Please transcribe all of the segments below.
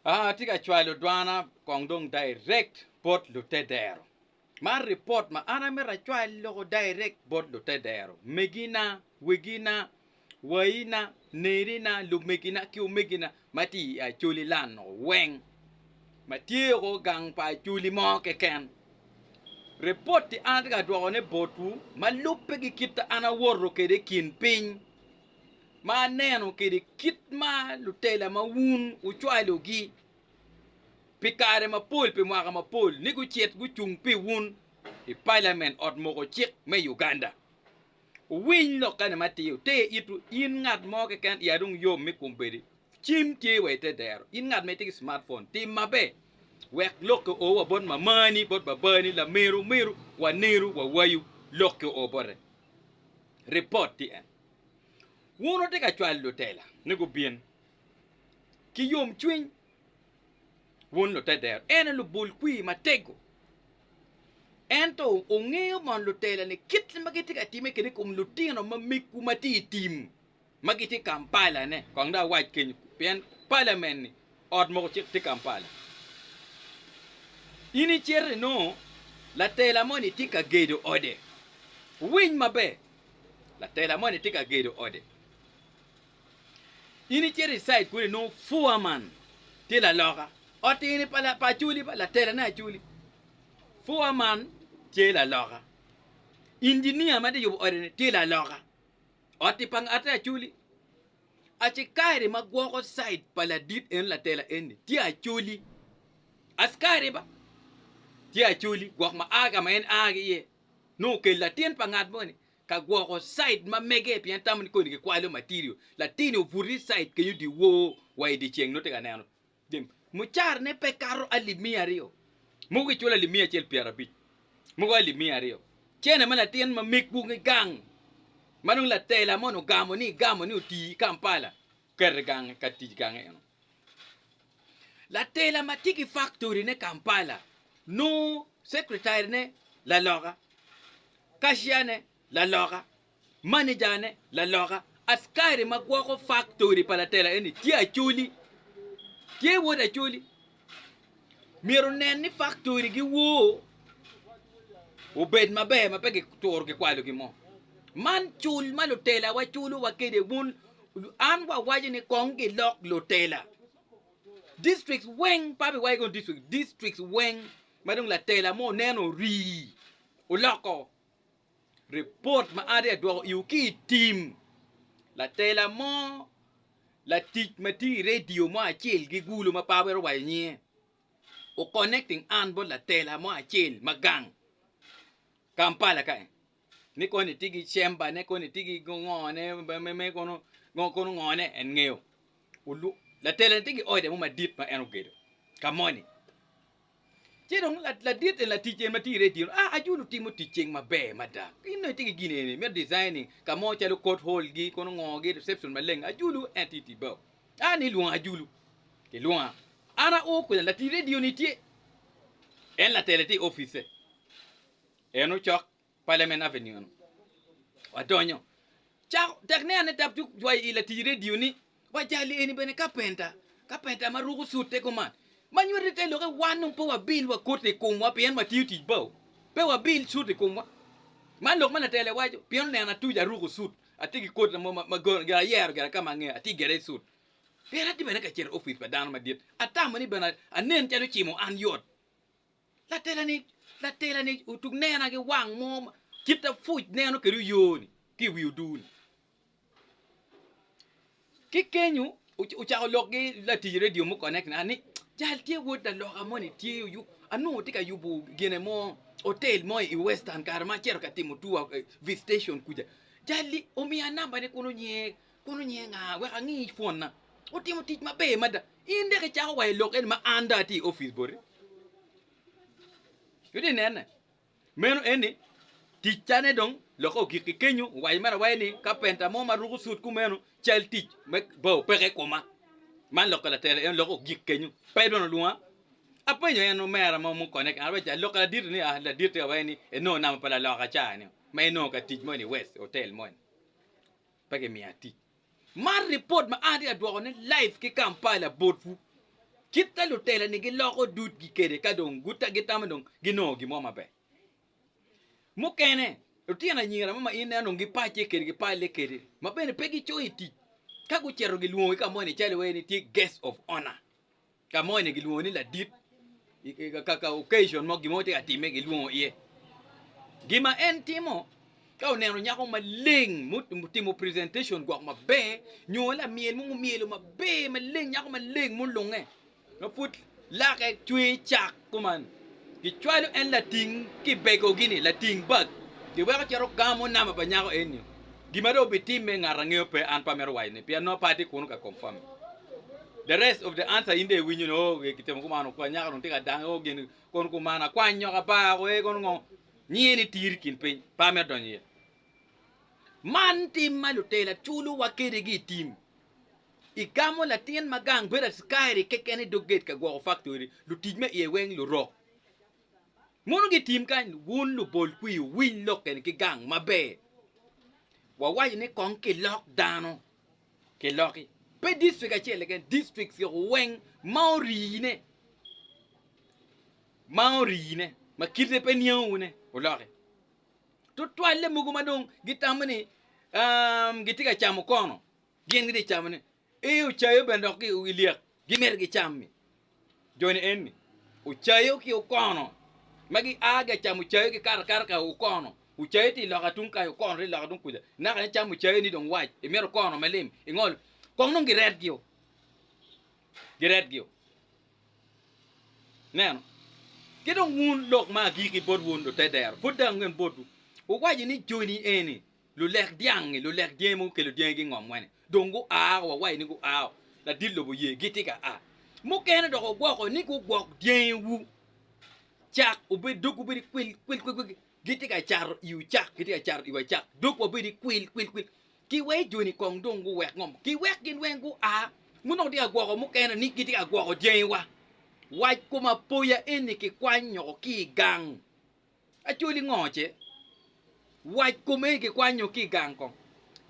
Atye ka cwalo dwana kong dong direct bot lute dero. Man report ma an amito acwal loko direct bot lute dero, megina, wegina, wayina, nerina, lumegina ki omegina ma tye i Acholi land o weng ma tye o gang pa Acholi mo keken. Report-ti an atye ka dwokone botwu ma lubbe ki kit an awoto kwede i kin piny. ma aneno kede kit ma lutela ma wun wucwalogi pi kare mapol pi mwaka mapol ni gucit gucung pi wun i palamen ot moko cik me Uganda. Wuwiny lokkane ma tiyo, wute itwu, in ngat mo keken i adong yom mi kum bedi cim tye wa ite dero, in ngat ma itye ki smartphone tim mabe wek lokke o wa bot mamani, bot babani, lameru meru, waneru, wawayu, lokke o bote. Report TN. Wun wutye ka cwalo lutela ni gubin ki yomcwiny, wun lute dero ene lubul kwir matego. Ento wungeyo bene lutela ni kit ma gitye ka timme kede i kom lutino ma megwu ma tye i tim ma gitye i Kampala-ne, kong dong awac kenyo pien palamen-ni Ot mogo cit tye Kampala in icito inongo latela moni tye ka gedo ode, winy maber latela moni tye ka gedo ode in icito i side kunu inongo foreman tye laloka ot eni pa acoli ba latela ne acoli foreman tye laloka engineer ma tye yubo ode ni tye laloka oti pa ngate acoli Acikari ma gwoko cid pa ladit en latela eni tye acoli. Acikari ba tye acoli gwok ma a ka ma en a ki iye nongo okelo latin pa ngat moni ka gwoko cid ma mege pien tamo ni koni kikwalo material. Latin-ni obuto ni cid kenyo dyewor wa i dyeceng nongo tye ka neno. Jemi. Mucarane pe kato alip miya aryo. Mogo giculo alip miya acel pyerabic, mogo alip miya aryo. Cene ma latin ma megwu ki gang ma dong latela moni ogamo ni igamo ni oti i Kampala, kete gange ka tic gange eno. Latela ma tye ki faktori ne Kampala nongo secretary ne laloka, cashier ne laloka, Manejane, laloka, askari ma gwoko faktori pa latela eni tye Acholi. Tye wod Acholi. Myero onen ni faktori giwoo obed maber ma pe gituro gikwalo gin mo. Man cul ma lutelawa culowa kwede wun an wawaco ni kong gilok lutela. Districts weng, pa biwaco kong district, districts weng ma dong latela mo oneno orii oloko Ripot ma Ade adwoko iwu ki i tim, Latela mo, latic ma tye i redio mo acel ki gulu ma paa wero waco nyinge, o connecting an bot latela mo acel ma gang Kampala ka en ni koni tye ki chamber ne koni tye ki ngo ne me me kono ngo kono ngo ne en ngeyo. Latela ni tye ki ode mo madit ma en ogedo ka moni Ci dong ladit en latic en ma tye i redio a ajulu timo tic ceng maber mada gin nongo itye ki gin eni me designing ka mo calo court hall gi kono ngo gi reception maleng ajulu en tye tic bao a ni lwonga ajulu kilwonga an ao kwena latic redio ni tye en latele tye i office en ocok Parliament Avenue eno, wadonyo. Cako, tek ne ane tap cuk cwayo i latic redio ni, Wajali eni bene kapenta, kapenta ma ruko cute kuman. Ma nywete te lokke wan dong pe wabil wa koti i komwa pien watiyo tic bao. Pe wabil cut i komwa. Man lok ma Latele waco, pien oneno atuco aruko cut, atye ki koti mo ma gire ayero gire ka ma angeyo, atye gire i cut. Pien atye bene ka cito i opic pa dano madit, atamo ni bene anen calo ocimo an yot. Latela-ni otuk nena ki wang mo ma kite apuc neno kwede oyoo-ni ki i wi oduu-ni. Ki kenyo ocako lok ki latic redio mukene ni jal tye wod laloka moni tye onongo tye ka yubo gine mo otel mo i western kare ma acito ka timo tour i visitation kuca jal-li omiya nambane kun onyer. Kono nyeng'a wek angi pwonna. Wutimo tic maber mada. In dek icako wa i lok eni ma an dong atye i opic boti. Wutye ka nene? Meno eni ticcane dong lokke ogikki kenyo. Owaco mere awaca ni kapenta mo ma ruko cut kumeno cal tic me bao peke i koma. Man lokke latela en lokke ogik kenyo. Pe dong olwonga. Apenyo en omera mo mukone kene, awaco ni lokke laditi ni, ah laditi awaca ni inongo namba pa laloka ca-ni ma inongo ka tic moni i West, otel moni. Pe gimiya tic. Man ripot ma an atye ka dwokone live ki Kampala botwu. Kit ma lutela-ni giloko dudgi kwede ka dong gitamo dong ginongo gin mo maber. Mukene, lutino anyira mo ma in ineno dong gipacce kwede, gipalle kwede, ma bene pe gicoyo i tic, ka gucito gilwongogi ka moni calo iwaci ni tye guest of honour. Ka mo eni gilwongo ni ladit, kaka occasion mo, gin mo tye ka timme, gilwongo iye. Gin ma en timo, ka oneno nyako maleng mutimo presentation gwok maber, nyo lamyel mo mumyelo maber maleng, nyako maleng mulunge, ma pud lake cwer cak, Kuman, gicwalo en lating kibego-gi-ni, lating bag, giweko cito gamo namba pa nyako eni-nio. Gin ma dong obitimme ngat angeyo pe, an pe amito waco ni, pien nongo pe atye kunu ka confirm-me. The rest of the answer in dong iwinyo ni, oh, gitimo kuman, okwany nyaka dong tye ka dange, oh, gin, kono kuman, akwany nyoko aba, oh, ee, kono ngo, nyinge ni Tir i kin piny, pe amito donyo iye. Man tim ma lutela culowa kedegi i tim. Igamo latin ma gang bedo acikairi keken i dog gate ka gwoko faktori, lutic me iye weng lurok. Mono gitim kany, wun lubol kwi wuwiny lok keni ki gang maber. Wawaco ni kong kilok dano, kiloki. Pe district acel keken, districts yoko weng ma orine, ma orine, ma kite pe niango wune, wuloki. Tutwalle mogo ma dong gitamo ni um, gitye ka camo kono. Gin gitye camo ne i ocayo bene dok ki i lyek gimito gi cami joni eni ocayo ki okono ma gi a ga camo ocayo gi kato akata ka okono ocayo tye loka tung kayo okono tye loka tung kuca naka ni camo ocayo ni dong wac i mito okono ma lim i ngolo kong nongo gi ret gi o gi ret gi o ineno ki dong wun lok ma agiki bot wun lutedero pud dong angen botwu wuwaco ni joni eni Lulek dyangi, lulek dyangi mogo gukelo dyangi gingom wene, dong gua wa waci ni guao, ladit lobo oye gitye ka a. Mukene dok ogwoko ni gugwok dyangiwu, cak obed dogwu bedo kwil kwil kwil kwil, gitye ka cato iwu cak, gitye ka cato iwa cak, dog wa bedo kwil kwil kwil, ki wek joni kong dong guwek ngom, ki wek gin weng gua. Mon dong tye ka gwoko mukene ni gitye ka gwoko dyangiwa. Wac kom apoya eni kikwanyo ki i gang. Acholi ngoce wac kome kikwanyo ki i gang kong.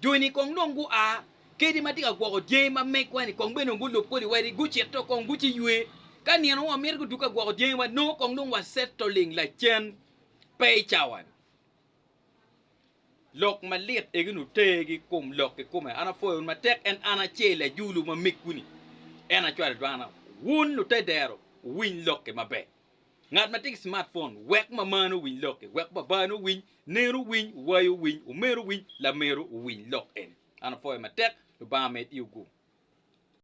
Jo-ni kong dong gua kadi ma tye ka gwoko dyangi ma megwa-ni kong bene dong gulub kodi wadi, gucit tok kong guci ywe. Ka nino wa mito guduk ka gwoko dyangiwa, nongo kong dong wa settling lacen pe i cawa-ni. Lok malit egini oter ki kom lok kikome. An apwoyo wun matek en an ace lajulu ma megwu-ni. En acwalo dwana. Wun lute dero, wuwiny lok-ki maber. Ngat ma tye ki smartphone wek mamane owiny lokke, wek babane owiny, nenu owiny, owayo owiny, omeno owiny, lameru owiny lok eni. An apwoyo matek, Lubanga med i ogu.